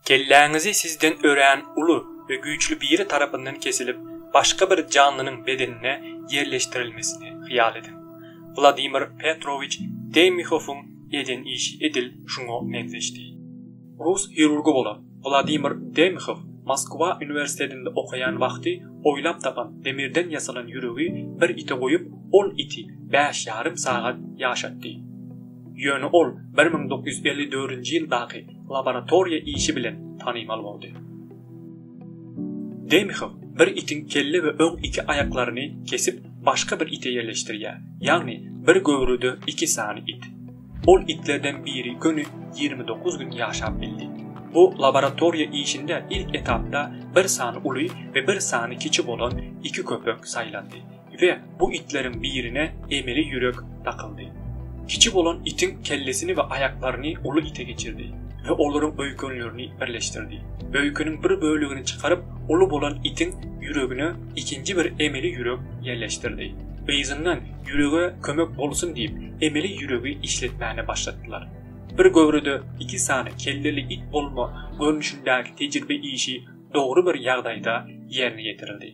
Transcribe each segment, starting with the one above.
Kelläňizi sizden örän uly we güýçli biri tarapyndan kesilip, başga bir janlynyň bedenine ýerleşdirilmesini hyýal ediň. Wladimir Petrowiç Demihofyň eden işi edil şuňa meňzeşdi. Rus hirurgy bolan Wladimir Demhow Moskwa uniwersitetinde okaýan wagty oýlap tapan demirden ýasalan ýüregi bir ite goýup, ol iti bäş ýarym sagat ýaşatdy. Ýöne ol bir müň dokuz ýüz elli dördünji ýyldaky laboratoriýa işi bilen tanymal boldy. Demhow bir itiň kelle we öň iki aýaklaryny kesip başga bir ite ýerleşdirýär, ýagny bir göwrüde iki sany it. Ol itlerden biri göni ýigrimi dokuz gün ýaşap bildi. Bu laboratoriýa işinde ilk etapda bir sany uly we bir sany kiçi bolan iki köpek saýlandy we bu itleriň birine emeli ýürek dakyldy. Kiçi bolan itiň kellesini we aýaklaryny uly ite geçirdi we olaryň öýkenlerini birleşdirdi. Öýkeniň bir bölegini çykaryp, uly bolan itiň ýüregine ikinji bir emeli ýürek ýerleşdirdi. Yzyndan Ýürege kömek bolsun diýip, emeli ýüregi işletmäne başlatdylar. Bir göwrede iki sany kelleli it bolma görnüşindäki tejribe işi dogry bir ýagdaýda ýerine ýetirildi.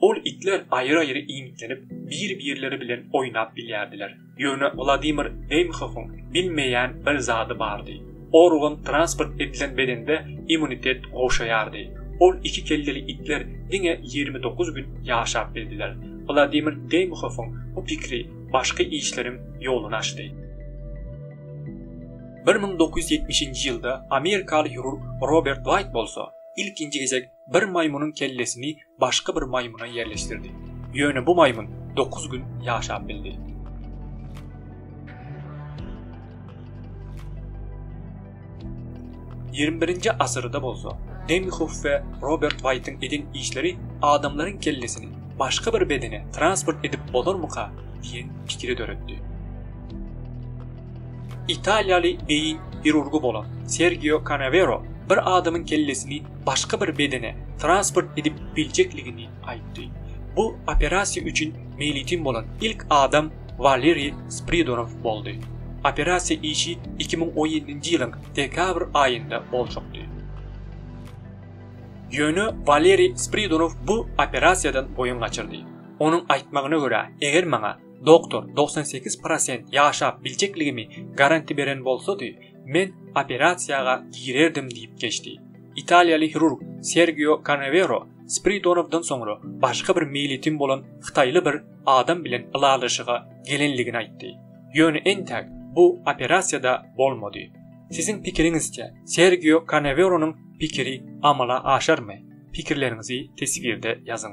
Ol itler aýry-aýry iýmitlenip, bir-birleri bilen oýnap bilýärdiler. Ýöne Wladimir Deýmhowyň bilmeýän bir zady bardy. Organ transport edilen bedende immunitet gowşaýardy. Ol iki kelleli itler diňe ýigrimi dokuz gün ýaşap bildiler. Wladimir Deýmhowyň bu pikiri başky işleriň ýoluny açdy. Bir müň dokuz ýüz ýetmişinji ýylda amerikaly hirurg Robert Waýt bolsa ilkinji gezek bir maýmynyň kellesini başga bir maýmyna ýerleşdirdi. Ýöne bu maýmyn dokuz gün ýaşap bildi. Ýigrimi birinji asyrda bolsa, Demýuhow we Robert Waýtyň eden işleri adamlaryň kellesini başga bir bedene transport edip bolarmyka diýen pikiri döretdi. Italiýaly beýin hirurgy bolan Sergio Kanawero bir adamyň kellesini başga bir bedene transport edip biljekligini aýtdy. Bu operasiýa üçin meýletin bolan ilk adam Waleriý Spridorow boldy. Operasiýa işi iki müň on ýedinji ýylyň dekabr aýynda boljakdy. Ýöne Waleriý Spridorow bu operasiýadan boýun gaçyrdy. Onuň aýtmagyna görä, eger maňa doktor togsan sekiz prosent ýaşap biljekligimi garanti beren bolsady, Men operasiýaga girerdim diýip geçdi. Italiýaly hirurg Sergio Kanevero Spiridonowdan soňra başga bir miýelitim bolan hytaýly bir adam bilen ylalaşyga gelenligini aýtdy. Ýöne entäk bu operasiýa-da bolmady. Siziň pikiriňizçe, Sergio Kaneweronyň pikiri amala aşarmy? Pikirleriňizi teswirde ýazyň.